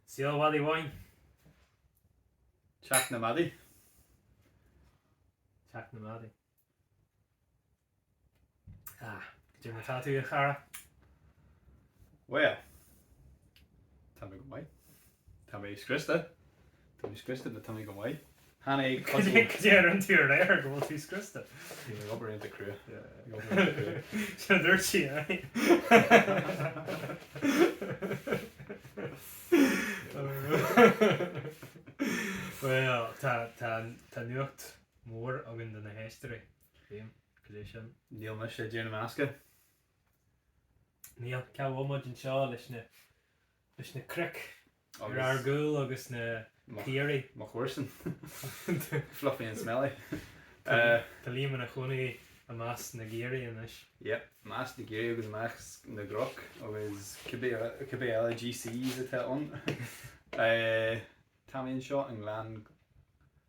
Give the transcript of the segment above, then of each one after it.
Saol Mhadaidh Bháin. Teach na Madaidh. Teach na Madaidh. Ah, cad é mar atá tú, a chara. Bhuel, tá mé go maith. Tá mé scriosta. Tá mé scriosta ach tá mé go maith. Tháinig codladh. Go dtéann an tír ar aer go bhfuil tú scriosta. Bhí mé ag obair iontach crua. Ag obair iontach crua. Sin a dúirt sí, aye. Bhuel, tá, tá, tá nuacht mhór againn do na héisteoirí. Liam, cad é sin? Níl mise ag déanamh meascadh. Níl, cá bhfuil muid anseo leis na, leis na cnoic? Ar ár gcúl agus na caoirigh. Mo chomharsan. Fluffy and smelly. Tá Liam ina chónaí i measc na gcaoirigh anois. Yep, i measc na gcaoirigh agus i measc na gcnoc agus cibé cibé eile GCs atá ann. Táimid anseo i nGleann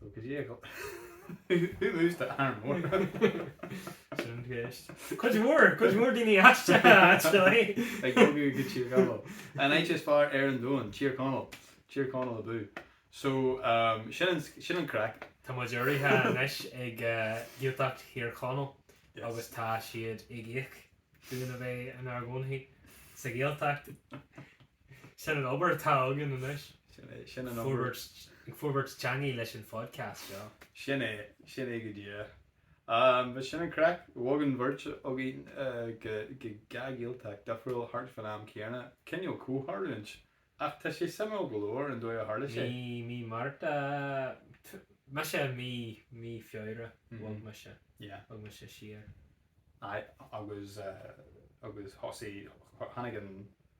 So go dtí a go. Who moves to Arranmore? Sin an cheist. Cuid mhór, cuid mhór daoine aisteach actually. Ag bogadh go Tír Chonaill. An áit is fearr ar an domhan, Tír Chonaill. Tír Chonaill abú. So um, sin an, sin an craic. Tá muid urraithe anois ag eh, Gaeltacht Thír Chonaill agus tá siad ag íoc dúinn a bheith inár gcónaí sa Ghaeltacht. Sin an obair atá againn anois. Sin é, sin an obair. Ag forbairt teanga leis an phodcast seo. Sin é, sin é go díreach. Bhuel sin an craic. Bhog an bheirt againn go dhá Ghaeltacht difriúil thart fán am céanna. Cineál comhtharlúint. Ach tá sé suimiúil go leor an dóigh a tharla sé. Mí, mí Márta, mise mí, mí Feabhra bhog mise, bhog mise siar. Aye agus, agus thosaigh, tháinig an.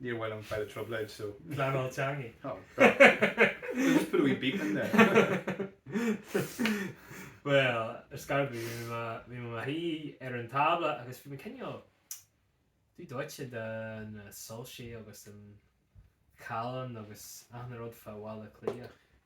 Níor mhaith liom a bheith i dtrioblóid so. Pleanáil teanga. Oh god. We'll just put a wee beep in there. Bhuel, ar scor ar bith, bhí mé bhí mé mo shuí ar an tábla agus bhí mé cineál dubh dóite de na soilsí agus an callán agus achan rud fá Bhaile Átha Cliath.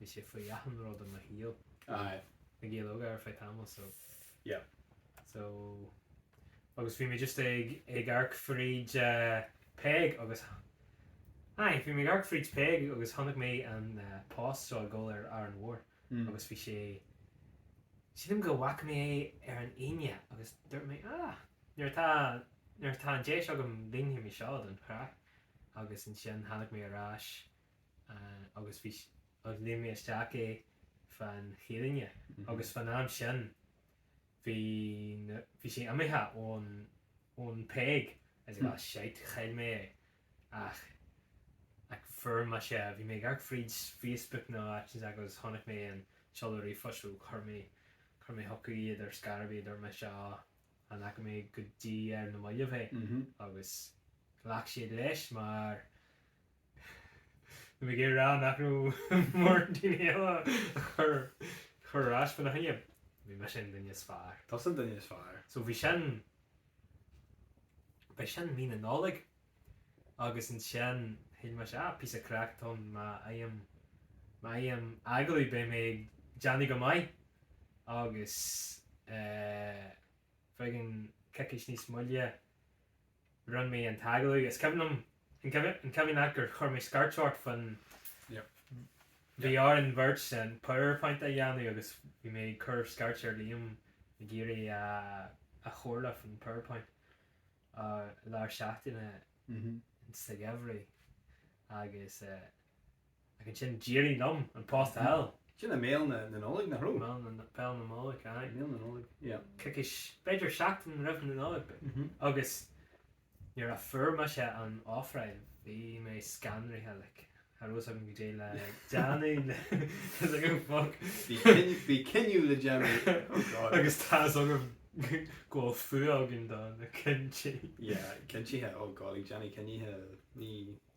bhí sé faoi achan rud i mo shaol. Bhí Aye. na Gaeil Óga ar feadh tamall so Yep. so agus bhí mé just ag ag amharc fríd eh Peig agus aye bhí mé ag amharc fríd Peig agus chonaic mé an eh post seo ag dul ar Árainn Mhór Mm. agus bhí sé sílim go bhfaca mé é ar an Aoine agus dúirt mé ah nuair atá nuair atá an deis agam déanfaidh mé seo don chraic agus ansin tháinig mé ar ais agus bhí agus líon mé isteach é fá choinne agus fán am sin bhí na, bhí sé imithe ón, ón Peig is I got a shite, chaill mé é ach, ach fuair mise, bhí mé ag amharc fríd Facebook nó áit inteacht agus chonaic mé an seoladh ríomhphoist so chuir mé, chuir mé chucu iad ar scor ar bith a dúirt mise á amharcfaidh mé air ar na mallaibh é agus ghlac siad leis mar, Tá mé ag déanamh nach raibh mórán daoine eile ag cur iarratais ina choinne. Bhí mise an duine is fearr. Tusa an duine is fearr. So bhí sin, b'é sin mí na Nollag agus ansin shíl mise ah píosa craic atá ann má fhaighim, má fhaighim agallamh beidh mé ag déanamh go maith agus eh i gceann coicís níos moille. Rinn mé an t-agallamh. Is cuimhin liom, an cuimhin leat gur chuir mé scairt ort faoin, bhí orainn ár mbeirt an powerpoint a dhéanamh agus bhí mé ag cur scairte ar Liam ag iarraidh a chomhairle faoin powerpoint lár seachtaine sa gheimhridh agus. Ach ansin d'éirigh liom an post a fháil. Sin i mbéal na Nollag, nach raibh? Béal na Nollag, aye. Béal na Nollag, yeah. Coicís, b'fhéidir seachtain roimh na Nollag. Agus nuair a fuair mise an ofráil bhí mé scanraithe, like, cha raibh fhios agam goidé le déanamh le, fhios agam fuck. Bhí cinneadh, bhí cinneadh le déanamh, oh god. Agus tá's agam go bhfuil fuath againn do na cinntí. Yeah, cinntí, oh god, ag déanamh cinntí, ní.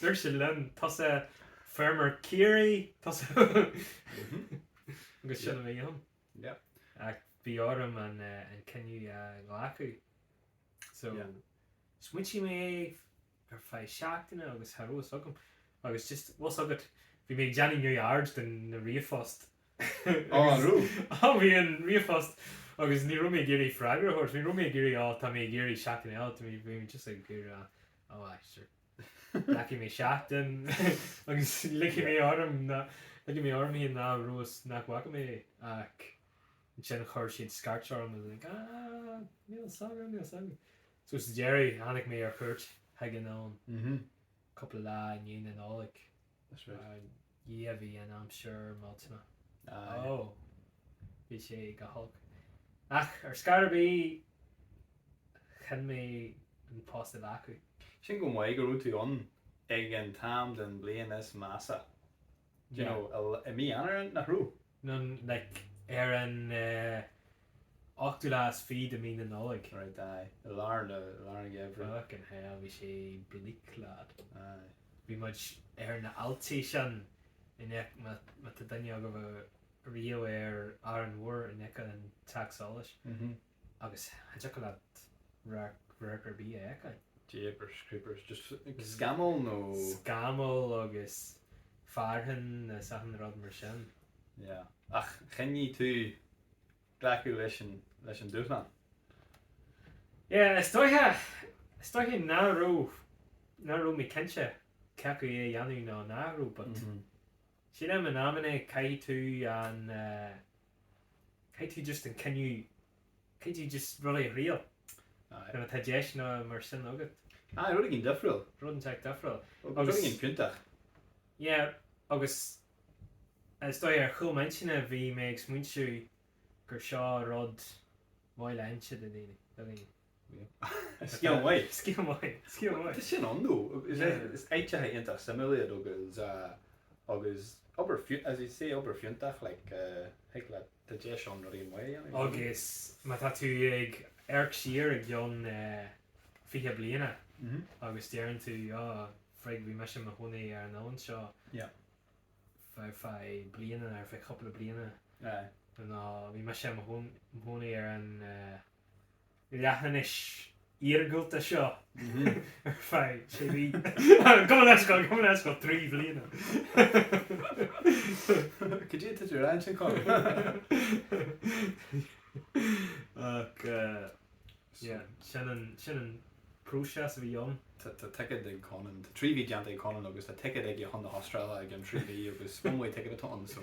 Dúirt sé liom, Tusa feirmeoir Ciarraí, tusa. Agus sin a bhí ann. Ach bhí orm an cinneadh a ghlacadh. So, smaoitigh mé ar feadh seachtaine agus cha rabh fhios agam. Agus just tá's agat, bhí mé ag déanamh neamhaird de na ríomhphoist. Á, an rabh? Á, bhí an ríomhphost agus ní rabh mé ag iarraidh freagra a thabhairt. Ní rabh mé ag iarraidh, á, tá mé ag iarraidh seachtain eile, bhí mé just ag iarraidh Ó a, sure. Glacfaidh mé seachtain agus ligfidh mé orm ná, ligfidh mé orm féin nach raibh fhios, nach bhfaca mé é ach ansin chuir siad scairt orm agus like ah níl's agam, níl's agam. So sa deireadh tháinig mé ar chuairt chuig an Ollainn cúpla lá i ndiaidh na Nollag. That's right. A Dhia bhí an aimsir millteanach. Aye. Oh. Bhí sé go holc. Ach ar scor ar bith chinn mé an post a ghlacadh. Sin go maith go raibh tú ann ag an t-am den bhliain is measa. Do you know, i mí Eanáir nach raibh? no like ar an ochtú lá is fiche de mí na Nollag. Right aye. I lár nó i lár an gheimhridh. Fuckin hell bhí sé bleak lad. Aye. Bhí muid ar na haillte sin in aice, má, má tá duine agaibh ariamh ar Árainn Mhór in aice an Teach Solais, Mhm. agus cha dtiocfadh leat radharc ar bith a fheiceáil. Jeepers creepers, just scamaill nó? Scamaill agus fearthainn is achan rud mar sin. Yeah. Ach chinn tú glacadh leis an, leis an dúshlán. Yeah, is dóiche, is dóiche nach raibh, nach raibh mé cinnte cé acu é a dhéanamh nó nach raibh but, sílim in amannaí caithfidh tú an eh, caithfidh tú just an cinneadh, caithfidh tú just rudaí a thriail. Aye. Nuair atá deiseanna mar sin agat. Aye, rud éigin difriúil. Rud inteacht difriúil. Agus rud éigin fiúntach. Yeah, agus is dóigh ar chúl m'intinne bhí mé ag smaointiú gur seo rud maith le inse do dhaoine, do dhaoine. Yep. Scéal maith. Scéal maith. Scéal maith. Tá sin ann dó. Is áiteacha iontach suimiúil iad agus agus obair fiú, as I say obair fiúntach like thig leat, tá deis ann rudaí maithe a dhéanamh. Agus má tá tú ag amharc siar i gceann fiche bliana agus deireann tú á, frig, bhí mise i mo chónaí ar an oileán seo ar feadh bliana nó ar feadh cúpla bliana nó bhí mise i mo chónaí ar an. leathinis iargúlta seo ar feadh sé mhí. Cuma leis, tá cuma leis go trí bhliana. Go dtí tú tú ansin cá. Ach yeah sin an sin an próiseas a bhí ann. Tá tá ticéad ag Conan, tá trí mhí déanta ag Conan agus tá ticéad aige chun na hAstráile ag an trí mhí agus one way ticket atá ann so.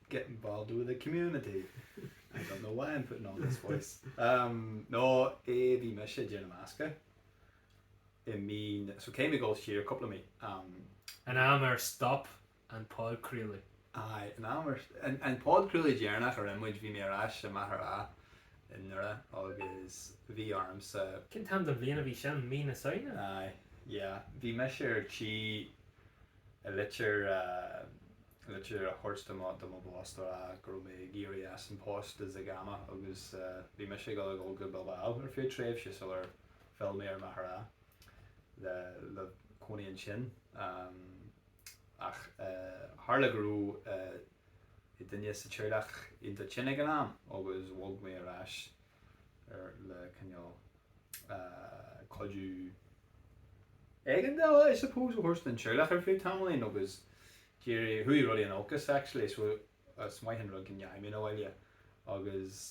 get involved with the community I don't know why I'm putting on this voice um no eh bhí mise déanamh meascadh i mí na so caithfidh mé dhul siar cúpla mí um an am ar stop an podchraoladh. aye an am ar an an podchraoladh deireanach a rinne muid bhí mé ar ais i Machaire Rátha i nDoire agus bhí ormsa Cén t-am den bhliain a bhí sin mí na Samhna? aye yeah bhí mise ar tí i litir eh. litir a thabhairt do mo, do mo boss a rá go raibh mé ag iarraidh as an post i Zig ama agus bhí mise ag dul a ghabháil go Bilbao ar feadh tréimhse sular phill mé ar Mhachaire Rátha le, le cónaí ansin ach tharla go raibh duine sa teaghlach iontach tinn ag an am agus bhog mé ar ais ar le cineál cuidiú éigeandála I suppose a thabhairt don Teaghlach ar feadh tamaillín agus d'éirigh chuaigh rudaí in olcas actually so is maith an rud go ndeachaigh mé abhaile agus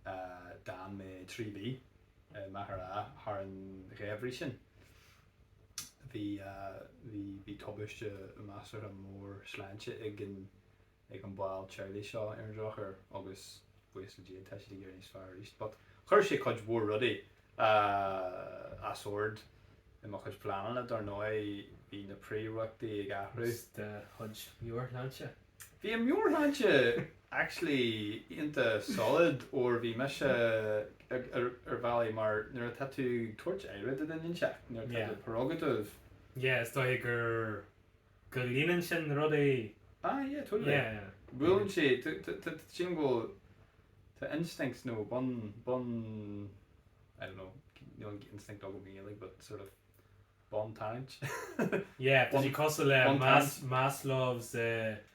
d'fhan mé trí mhí i Machaire thar an gheimhreadh sin. Bhí bhí bhí tubaiste measartha mór sláinte ag an ag an ball teaghlaigh seo ar an drochuair agus buíochas le Dia tá siad ag éirí níos fearr arís but chuir sé cuid mhór rudaí as ord i mo chuid pleananna dar ndóigh bhí na prioireachtaí ag athrú. Is do chuid meabhairshláinte. Bhí an meabhairshláinte actually iontach solid óir bhí mise ar bhealach mar nuair atá tú ag tabhairt aire do dhuine inseacht nuair atá tú ag prerogative. Yeah is dóiche gur. Go líonann sin rudaí. Ah yeah totally Yeah yeah. Buaileann sé cineál do instincts nó bun, bun, I don't know, níl an instinct agam i nGaeilge but sort of bun tarraingt? Yeah, tá sé cosúil le Bun tarraingt? Maslows eh.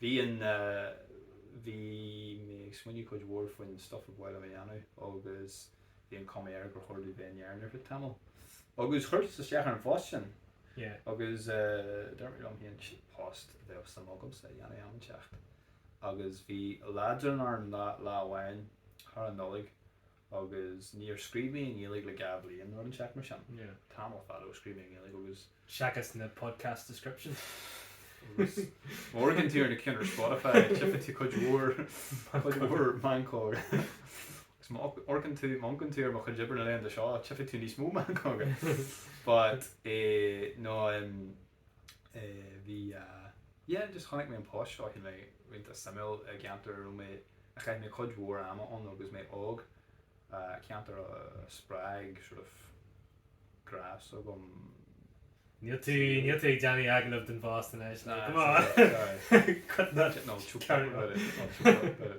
Bhí an, bhí mé ag smaoineamh cuid mhór faoin stuff ab áil liom a dhéanamh agus bhí an cuma air gur chóir domh bheith in Éirinn ar feadh tamaill. Agus chuir tú isteach ar an phost sin. Yeah. Agus dúirt mé liom féin, sin post a bheadh suim agamsa a dhéanamh am inteacht. Agus bhí leadrán orm lá amháin thar an Nollaig agus níor scríobh mé i nGaeilge le dhá bhliain nó rud inteacht mar sin. Tamall fada ó scríobh mé i nGaeilge agus. Seachas na podcast descriptions. Agus má amharcann tú ar na cinn ar Spotify tchífidh tú cuid mhór, cuid mhór meancóga. Agus má amharcann tú, má amharcann tú ar mo chuid oibre le linn dó seo tchífidh tú níos mó meancóga. But eh no em Eh bhí eh, yeah just chonaic mé an post seo, shíl mé iontach suimiúil i gceantar a raibh mé, a chaith mé cuid mhór ama ann ó agus mé óg, eh ceantar a spreag sort of grá s'agam. Níl tú, níl tú ag déanamh agallamh don bpost anois, like come on! Cut that, no, carry on.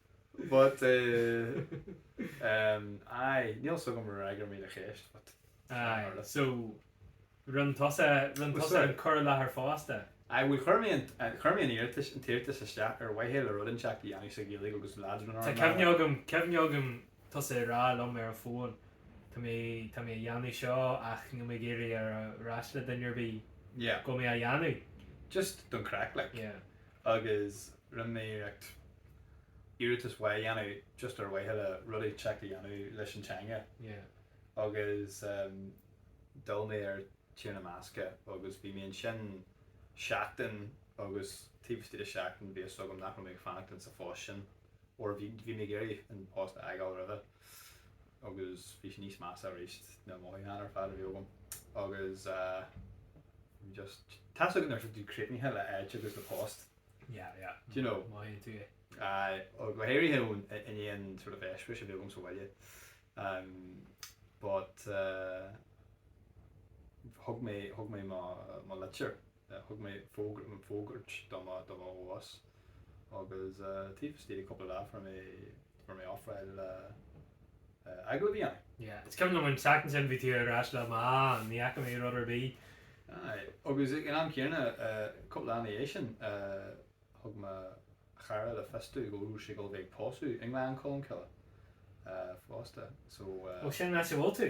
But eh em aye níl 'fhios agam ar fhreagair muid an cheist but Aye tharla. so rinn tusa rinn Well tusa sorry. an cur i láthair fosta. Aye bhuel chuir mé an chuir mé an iarratas an t-iarratas isteach ar mhaithe le rud inteacht a dhéanamh sa Ghaeilge agus an leaids mná Tá mná cuimhne agam cuimhne agam tusa ag rá liom ar an bhfón tá mé tá mé a dhéanamh seo ach níl mé ag iarraidh a rá le duine ar bith Yeah. go mbeidh mé á dhéanamh. Just don chraic like. Yeah. agus rinne mé iarracht iarratas maith a dhéanamh just ar mhaithe le rud inteacht a dhéanamh leis an teanga agus em d'fhill mé ar Thír na mBascach agus bhí mé ansin seachtain agus taobh istigh de sheachtain bhí fhios agam nach raibh mé ag fanacht insa phost sin ar bhí bhí mé ag iarraidh an post a fhágáil roimhe. agus bhí sé níos measa aríst na mothúcháin ar fad a bhí agam agus eh just tá a fhios agat nuair atá tú críochnaithe le áit agus le post Yeah yeah do you know mothaíonn tú é aye ó go háirithe i ndiaidh an sort of eispéiris a bhí agam sa bhaile em but eh thug mé thug mé mo mo litir Thug mé fógra do mo bhoss agus taobh istigh de chúpla lá fuair mé fuair mé ofráil le glacadh a bhí ann. Yeah, is cuimhin liom an tseachtain sin bhí tú ar ais linn, ní fhaca mé rud ar bith. Aye, agus ag an am céanna, cúpla lá ina dhiaidh sin, thug mo chara le fios domh go raibh sé ag dul a bheith ag pósadh i nGleann Cholm Cille fosta, so. Ó sin áit a bhfuil tú?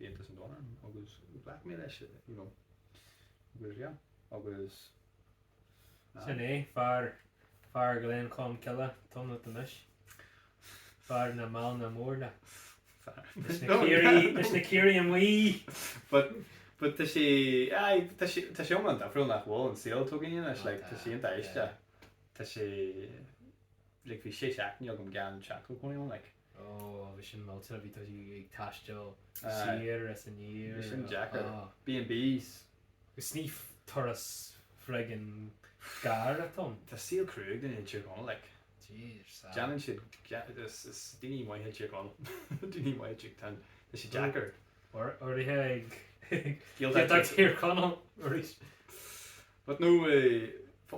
Aontas an Domhain agus ghlac mé leis you know agus yeah agus aye. Sin é, fear, fear Ghleann Cholm Cille tú anois. Fear na mbeann mór. Fear. Leis na caoirigh, leis na caoirigh amuigh! But, but tá sé, aye, tá sé, tá sé iomlán difriúil nach bhfuil an saol atá againn anois, like tá sé iontach aisteach. Tá sé, like bhí sé seachtainí agam gan teach cónaithe agam like. Ó, bhí sin millte, bhí tú ag taisteal siar is aniar. Bhí sin deacair. B&Bs. Is ní turas friggin gearr atá ann. Tá saol cruaidh ag duine i dTír Chonaill like. Jeez, sad. Déanann siad, is daoine maithe i dTír Chonaill, daoine maithe i dTír Chonaill, tá sé deacair. Go háirithe i Gaeltacht Thír Chonaill arís. But no,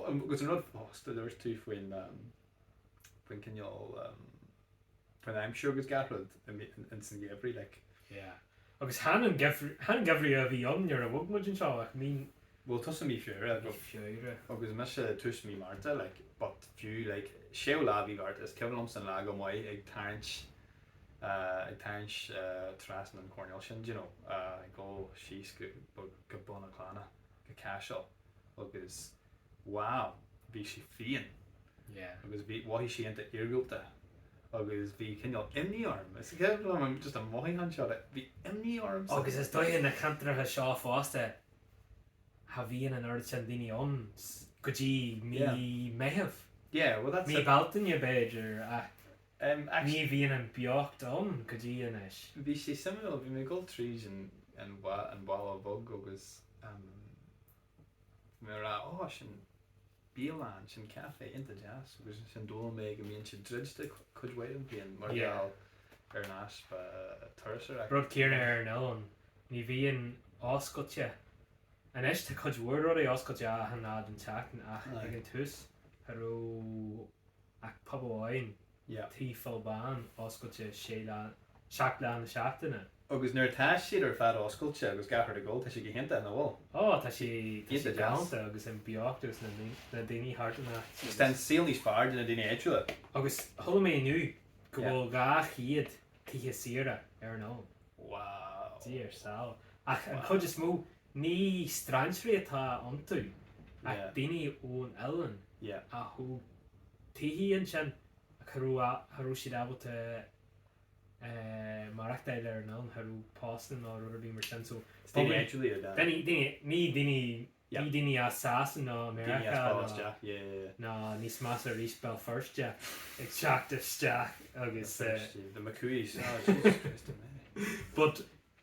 agus an rud fosta a dúirt tú faoin, faoin cineál, faoin aimsir agus gach rud ins an gheimhreadh like. Yeah. Agus chan an geimhreadh, chan geimhreadh a bhí ann nuair a bhog muid anseo ach mí. Bhuel tosaí mhí Feabhra but. Mí Feabhra. Agus mise tús mí Márta like but fiú like séú lá de mhí Mhárta is cuimhin liomsa an lá go maith ag tarraingt, ag tarraingt trasna an choirnéal sin d'you know go síos go Bun a' Clána go Caiseal. agus wow bhí sé fiáin yeah agus bhí mhothaigh sé iontach iargúlta agus bhí cineál imní orm an chéad rud orm just an mothúchán seo de bhí imní ormsa agus is dóigh na ceantracha seo fosta cha bhíonn an oiread sin daoine ann go dtí mí yeah Meitheamh yeah well that's it mí Bealtaine b'fhéidir ach Ní bhíonn an beocht ann go dtí anois. Bhí sé suimiúil, bhí mé ag dul tríd an an Bhun Bheag agus bhí mé ag rá ó sin bialann, sin café iontach deas agus ansin d'fhoghlaim mé go mbíonn siad druidte cuid mhaith den bhliain mar gheall ar an easpa turasóireacht. Rud céarna ar an oileán, ní bhíonn oscailte, anois tá cuid mhór rudaí oscailte achan lá den tseachtain ach ag an tús cha raibh. ach pub amháin, yeah. Tí Phil Bán, oscailte sé lá, seacht lá na seachtaine. Agus nuair atá siad ar fad oscailte agus gach rud ag dul, tá sé go hiontach, nach bhfuil? Ó, tá sé, tá sé galánta agus an beocht agus na, na daoine thart in áit agus. Agus tá an saol níos fearr do na daoine áitiúla. Agus chuala mé inniu go bhfuil dhá chéad tithe saoire ar an oileán. Wow. Dar a saol. Ach an chuid is mó, Ní strainséirí atá iontu ach daoine ón oileán a thóg tithe ansin ach cha raibh siad ábalta maireachtáil ar an oileán, cha raibh postanna ná rud ar bith mar sin so is daoine eagraithe iad, aye. Daoine, daoine, ní daoine, ní daoine as Sasana ná Meiriceá ná. Daoine ag teacht isteach, yeah, yeah, yeah. Ná níos measa arís Béal Feirste ag teacht isteach agus. Béal Feirste, the McCooeys, oh Jesus Christ A'mary. But.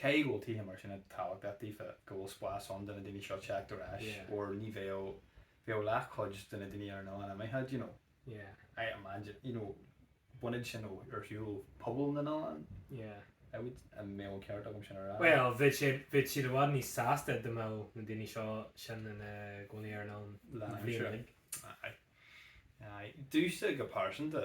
Cé go bhfuil tithe mar sin a tábhachtach daofa go bhfuil spás ann do na daoine seo teacht ar ais Yeah. or ní bheadh, bheadh leath chuid de na daoine ar an oileán imithe do you know. Yeah. I imagine, you know, bunadh sin ó, ar shiúl pobal na n-oileán Yeah. I would, an mbeadh an ceart agam sin a rá? Bhuel, bheadh sé, bheadh siad i bhfad níos sásta da mbeadh na daoine seo sin ina gcónaí ar an oileán Lá na aimsire. bhliain uilig. Aye. Aye. Duitse go pearsanta.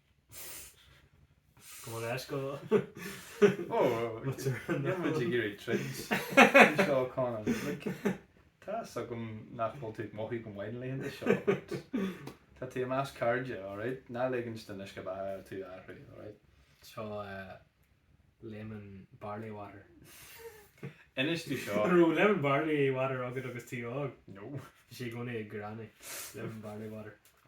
Go bhfuil leis go Ó, níl muid ag iarraidh troid. Anois seo Conor. Like, tá a fhios agam nach bhfuil tú ag mothú go maith na laethanta seo. but Tá tú i measc cairde, alright? Ná lig don uisce beatha tú a athrú, alright? Seo eh, lemon barley water. Inis tú seo. An raibh lemon barley water agat agus tú óg? No. Bhí sé i gcónaí ag granny. Lemon barley water.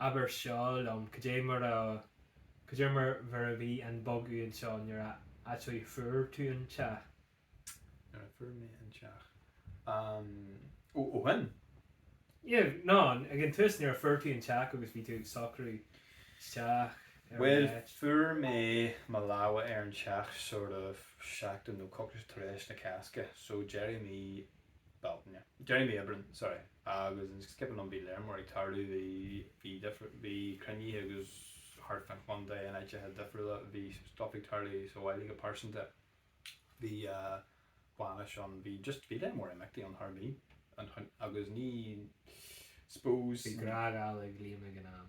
Abair seo liom, cad é mar a, cad é mar, mar a bhí an bogadh anseo nuair a, actually, fuair tú an teach? Nuair a fuair mé an teach? Umm, ó, ó shoin? Yeah, no, ag an tús, nuair a fuair tú an teach agus bhí tú ag socrú isteach ar an Bhuel, áit. fuair mé mo lámha ar an teach sort of seachtain nó coicís tar éis na Cásca, so deireadh mí. Bealtaine. Deireadh mhí Aibreáin, sorry. Agus an skipping liom bhí lear mór ag tarlú, bhí, bhí difir, bhí cruinnithe agus thart fán chontae in áiteacha difriúla bhí stuff ag tarlú sa bhaile go pearsanta. Bhí eh bainis ann, bhí just, bhí lear mór imeachtaí ann thar mí an chon agus I suppose Bhí grágáil ag Liam ag an am.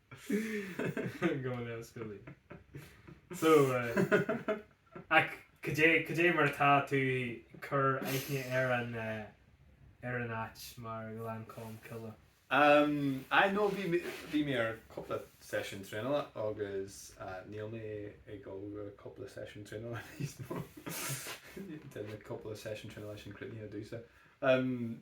Go mba leor scilling. So, eh, ach cad é, cad é mar atá tú ag cur aithne ar an eh, ar an áit, mar Gleann Cholm Cille? Em, aye no bhí mé, bhí mé ar cúpla session traenála agus eh, níl mé ag dul go cúpla session traenála níos mó. Tá na cúpla session traenála sin críochnaithe domhsa. Em.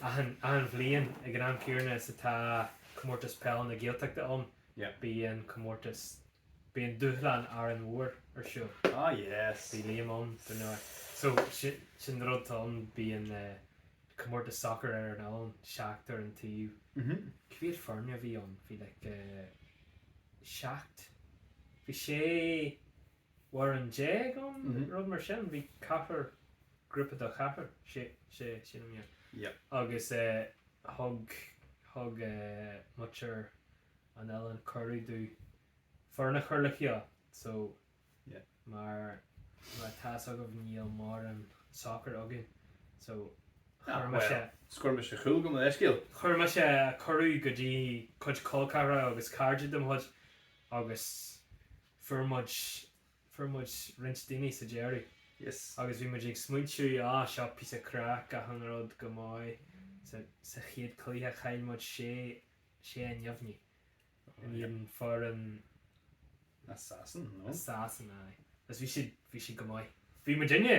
Achan bhliain ag an am chéanna is atá Comórtas Peil na Gaeltachta ann bíonn comórtas, bíonn dúshlán Árainn Mhór ar siúl. Ah yes. Bhí Liam ann dar ndóigh. So sin an rud atá ann, bíonn comórtas soccer ar an oileán, seachtar an taobh. Cé mhéad foirne a bhí ann, bhí like seacht, bhí sé, fhoireann déag ann, rud mar sin. Bhí ceathrar, grúpa de cheathrar, sé, sé, sé nó mar. Yep. Agus thug, thug muintir an oileáin cuireadh dúinn foireann a chur le chéile. So, Yeah. mar, mar atá 'fhios agaibh níl mórán sacair againn. So, chuir mise. Ah, bhuel, scoir mise cúl, gabh mo leithscéal. Chuir mise cuireadh go dtí cuid col ceathracha agus cairde de mo chuid agus fuair muid, fuair muid roinnt daoine sa deireadh. Yes. Agus bhí muid ag smaointiú, á, seo píosa craic, achan rud go maith. Sa, sa chéad cluiche chaill muid sé, sé a neamhní. Oh, in yeah. éadan foireann. As Sasain, no? As Sasain, aye. Agus bhí siad, bhí siad go maith. Bhí muid inne!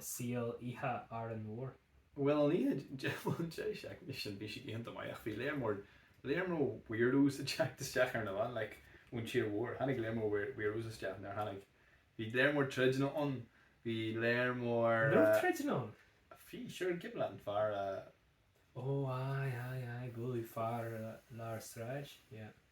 saol oíche Árainn Mhór. Bhuel an oíche bhuel Deireadh Seachtaine bhí sin bhí sé iontach maith ach bhí lear mór lear mór weirdos a theacht isteach ar an oileán like ón tír mhór tháinig lear mór weird weirdos isteach nár tháinig bhí lear mór troideanna ann bhí lear mór An raibh troideanna ann? bhí sure buaileadh an fear a Ó aye aye aye buaileadh fear lár sráide yeah.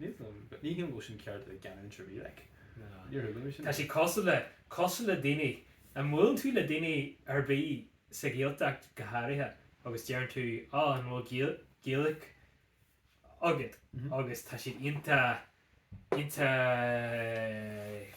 Níl liom, ní haon go bhfuil sin ceart a bheith genuine sa ríl aici. Níor thuigim é sin. Tá sé cosúil le, cosúil le daoine, a mbuaileann tú le daoine ar bith sa Ghaeltacht go háirithe agus deireann tú á an bhfuil Gael, Gaelic agat agus tá siad iontach, iontach,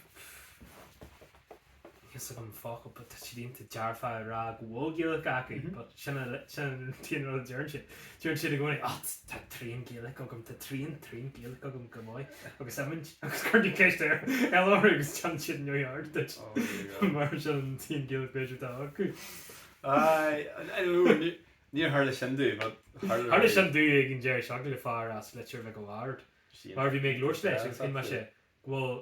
fhios agam focal but tá siad ionta dearfá a rá go bhfuil Gaelic acu but sin an t-aon rud a deireann siad. Deireann siad i gcónaí oh tá trian Gaelic agam tá trian trian Gaelic agam go maith agus imint agus cuireann ceist ar bith eile orthu agus téann siad in New York duit mar sin an t-aon Gaelic b'fhéidir atá acu. Aye níor tharla sin dúinn but tharla Tharla sin dúinn ag an deireadh seo go le fear as Leitir Mhic a' Bhaird mar bhí mé ag labhairt leis agus chinn mé sé go bhfuil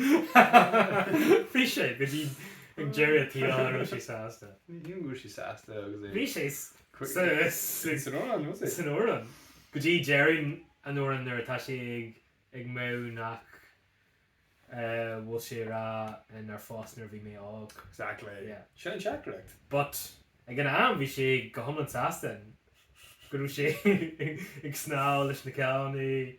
Bhí sé, go dtí an deireadh an tsaoil a raibh sé sásta. Ní hé go raibh sé sásta agus é. Bhí sé san amhrán, was he? San amhrán. Go dtí deireadh an amhráin nuair atá sé ag ag maíomh nach bhfuil sé ag rá nár phós mé nuair a bhí mé óg. Exactly. Yeah. Sin an teachtaireacht. But ag an am bhí sé go hiomlán sásta go raibh sé ag snámh leis na cailíní.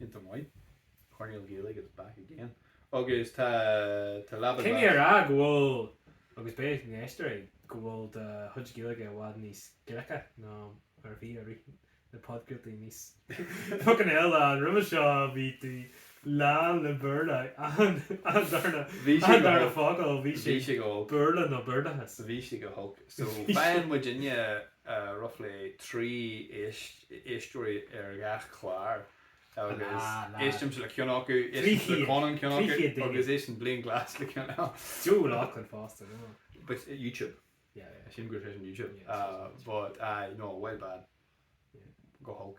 ionta maith. Coirnéal Gaeilge is back again agus tá tá leaba Caithfidh mé a rá go bhfuil agus beidh na héisteoirí go bhfuil do chuid Gaeilge i bhfad níos glice ná mar a bhí i rith na podchraoltaí níos fuckin hell a fhad roimhe seo bhí tú lán le Béarla achan achan darna Bhí sé achan go darna holc focal bhí sé bhí sé go holc Béarla nó Béarlachas bhí sé go holc so bhí sé faigheann muid inniu roughly trí éisteoirí ar gach clár agus éistimse le ceann acu, éisteann Conan le ceann acu agus éisteann Blaine Glass le ceann eile. Joe O'Loughlin fosta, no? But YouTube, yeah, yeah, sílim gur féidir YouTube, but aye, no, bhuel bad, go holc.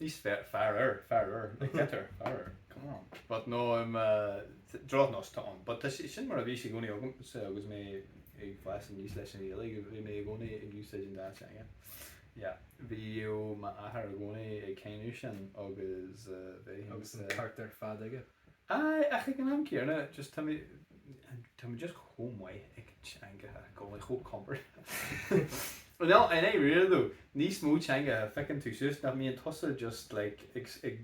Níos fearr, faraor, faraor, like better, faraor, come on, but no, I'm a, drochnós atá ann, but tá sé, sin mar a bhí sé i gcónaí agamsa agus mé ag fás aníos leis an Ghaeilge, bhí mé i gcónaí ag úsáid an dá teanga, yeah, bhíodh m'athair i gcónaí ag cáineadh sin agus eh, bheith ins Agus an eh, ceart ar fad aige. Aye ach ag an am céarna just tá mé tá mé just chomh maith ag an teangacha i gcónaí chomh comfortable I know in De réir though níos mó teangacha feiceann tusa nach mbíonn tusa just like ag ag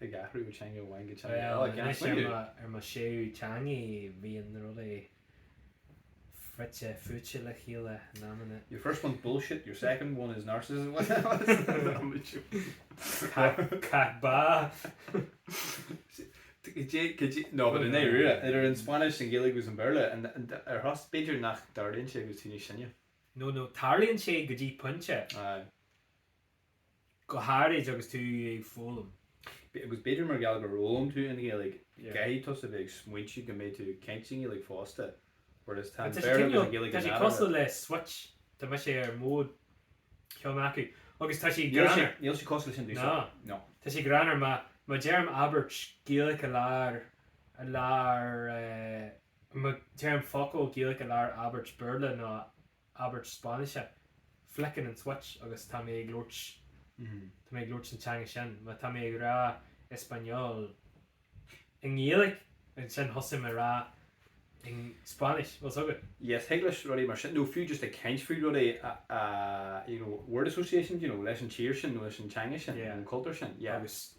ag athrú ó teanga amháin go teanga eile like tá mé anois ar mo ar mo séú teanga bhíonn na rudaí fite fuaite le chéile in amanna. Your first one's bullshit, your second one is narcissism Caith ba! No but i ndáiríre, idir an Spáinnis, an Ghaeilge agus an Béarla, an, an, ar dtús, b'fhéidir nach dtarlaíonn sé go dtí go bhfuil tú níos sine. No, no, tarlaíonn sé go dtí pointe. Aye. Go háirid agus tú ag foghlaim. Agus b'fhéidir mar gheall gur fhoghlaim tú an Ghaeilge, caithfidh tusa bheith ag smaointiú go mbeidh tú ag caint sa nGaeilge fosta, whereas tá an Béarla agus an Ghaeilge in eadar a. Tá sé cosúil le switch, tá mise ar mode ceann acu agus tá sé greannmhar. Níl sé cosúil le sin domhsa, no. Tá sé greannmhar má má deirim abairt Gaeilge i lár i lár má deirim focal Gaeilge i lár abairt Béarla nó abairt Spáinnise, flickeann an switch agus tá mé ag labhairt, tá mé ag labhairt an teanga sin, má tá mé ag rá español i nGaeilge, ansin thosaigh mé a rá i Spáinnis, bhfuil 's agat? Yes, thig leis rudaí mar sin, nó fiú just ag caint faoi rudaí a, a you know, word association, you know, leis an tír sin nó leis an teanga sin nó an cultúr sin, yeah. Agus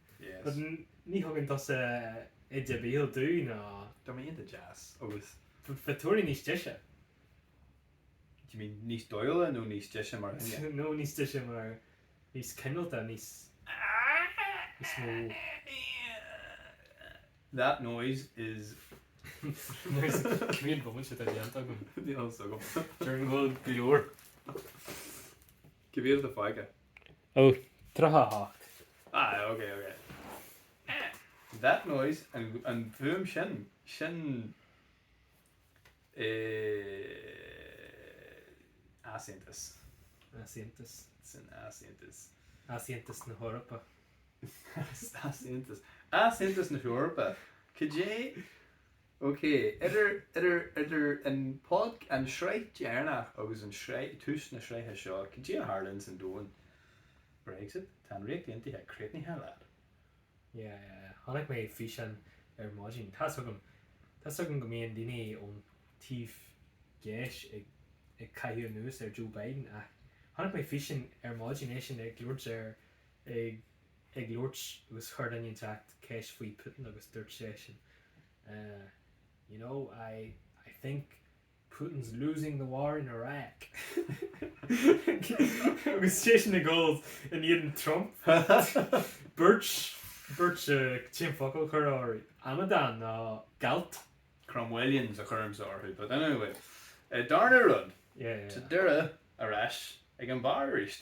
Yes. Ní thugann tusa íde béil dúinn ná. Tá mé iontach deas agus. Bheith giota beag níos deise. Do you mean níos dóighiúla nó níos deise mar dhuine? No níos deise mar níos cineálta níos mó. That noise is Cén bomaite atá déanta agam? Déarfainn go leor. Cé mhéad atá fágtha? Ó, 38. Aye, ok, ok. Eh. That noise, an, an fuaim sin, sin eh easaontas. Easaontas. Sin easaontas. Easaontas na hEorpa. Easaontas. Easaontas na hEorpa. Cad é. OK, idir, idir, idir an pod, an sraith deireanach agus an sraith, tús na sraithe seo, cad é a tharla ins an domhan? Brexit? Tá an Ríocht Aontaithe críochnaithe leat. Yeah, yeah, yeah. Chonaic mé físeán ar maidin. Tá's agam, tá's agam go mbíonn daoine ón taobh dheis ag, ag caitheamh anuas ar Joe Biden ach chonaic mé físeán ar maidin, eisean ag labhairt ar, ag, ag labhairt agus chuir duine inteacht ceist faoi Putin agus dúirt seisean eh you know I I think Putin's losing the war in Iraq agus seisean ag gabháil in éadan Trump beirt beirt eh cén focal a chuirfeá orthu amadán nó gealt. Cromwellians a chuirimse orthu but anyway eh darna rud yeah yeah sa deireadh ar ais ag an bar aríst.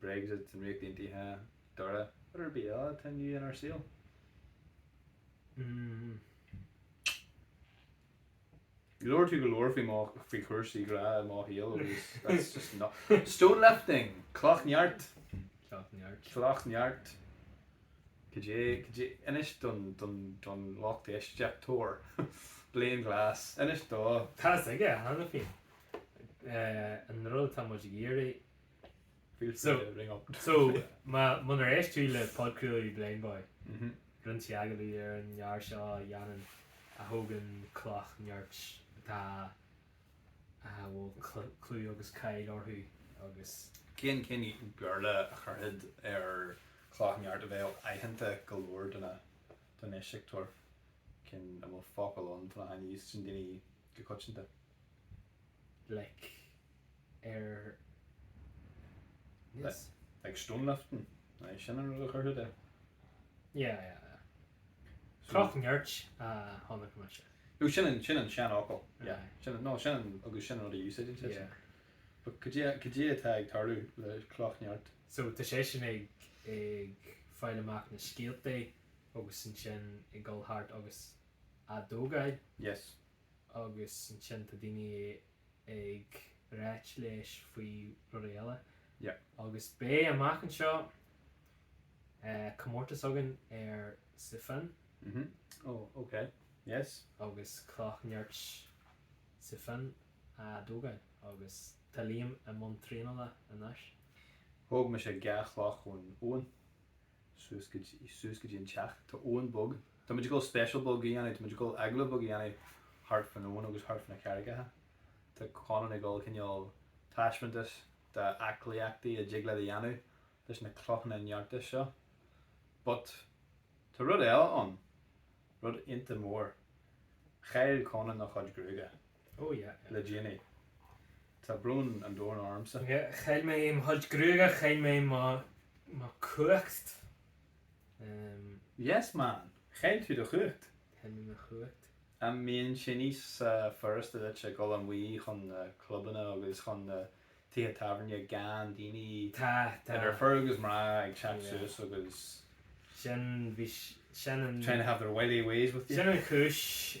Brexit, an Ríocht Aontaithe, Doire, rud ar bith eile atá ann inár saol. Mmm. Labhair tú go leor faoi mo, faoi chúrsaí grá i mo shaol agus that's just not, stone lifting! Cloch neart! Cloch neart. Cloch neart. Cad é, cad é, inis don, don, don lucht éist, éisteachtóirí, Blaine Glass, inis do. Tá's acu cheana féin? Eh, an rud atá muid ag iarraidh. Feel free to ring up. So, munar éist tú le podchraoladh Blindboy, rinneadh agallamh leis an fhear seo a dhéanann, a thógann cloch nirt atá, a bhfuil clú agus cáil orthu agus. Cén, cén Béarla a chuirfeá ar cloch nirt a bheadh aitheanta go leor do na, don éisteoir? Cén, an bhfuil focal ann, atá in úsáid ag daoine go coitianta. like ar Li- Yes like stone lifting aye sin an rud a chuirfeá air. Yeah yeah yeah. So. Cloch nirt a chonaic mise. No sin an, sin an seanfhocal yeah Aye. sin no sin an agus sin an rud a úsáideann siad Yeah. But cad é cad é atá ag tarlú le cloch nirt? So tá seisean ag ag fáil amach na scéaltaí agus ansin ag dul thart agus á dtógáil? Yes. agus ansin tá daoine ag ráit leis faoi rudaí eile. Yep. Agus beidh amach anseo comórtas againn sa Phíobán. Mhm. Oh ok. Yes. Agus cloch nirt sa Phíobán á tógáil agus tá Liam i mbun traenála anois. Thóg mise dhá chloch ón abhainn. suas go dtí, suas go dtí an teach. Tá abhainn bheag. Táimid ag dul special beag a dhéanamh, táimid ag dul agallamh beag a dhéanamh thart fán abhainn agus thart fá na carraigeacha. Tá Conan ag dul cineál taispeantas de aclaíochtaí a dtig leat a dhéanamh leis na clochanna nirt seo. But tá rud eile ann, rud iontach mór. Chaill Conan a chuid gruaige. Oh yeah, le déanaí. Tá brón an domhain ormsa. Yeah, chaill mé mo chuid gruaige, chaill mé mo, mo cumhacht. Ehm. Yes man, chaill tú do chumhacht. Chaill mé mo chumhacht. An mbíonn sé níos furasta duit a dhul amach chun na clubanna agus chun na tithe tábhairne gan daoine, Tá, tá. idir fir agus mná ag teacht Yeah. suas agus Sin, bhí, sin an, trying to have their wiley ways with you? sin an chúis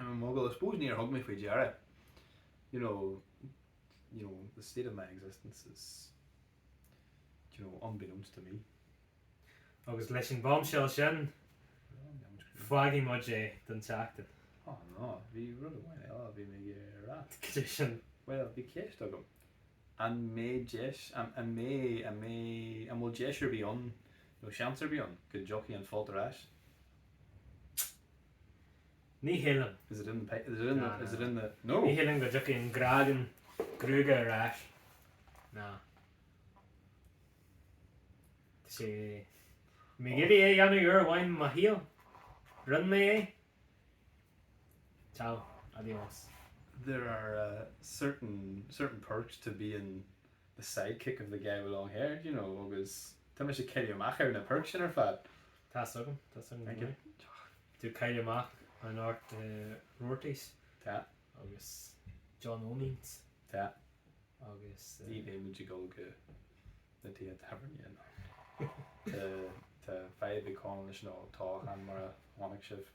Mo ghal, I suppose níor thug mé faoi deara you know, you know, the state of my existence is do you know, unbeknownst to me. Agus leis an bombshell sin, fágfaidh muid é don tseachtain. Á ná, bhí rud amháin eile a bhí mé ag iarraidh a rá. Cad é sin? Bhuel, bhí ceist agam, an mbeidh deis, an, an mbeidh, an mbeidh, an bhfuil deis ar bith ann, nó seans ar bith ann, go dtiocfaidh an folt ar ais? Ní shílim. Is it in the pa- is it in Na, the, is na, it na. in the, no! Ní shílim go dtiocfaidh an grágan gruaige ar ais. Na. Tá sé, bhí mé ag iarraidh é a dhéanamh uair amháin i mo shaol. Rinn mé é. Ciao. Adios. There are eh certain, certain perks to being the sidekick of the guy with long hair, do you know, agus tá mise ag cailleadh amach ar na perks sin ar fad. Tá's agam, tá's agam go maith. Ag cailleadh amach anocht Roarty's agus John Eoinín's agus. Ní bheimid ag dul go na tithe tábhairne anocht. Tá fadhb ag Conal leis an ólachán mar a chonaic sibh.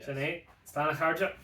Sin é. Slán a chairde.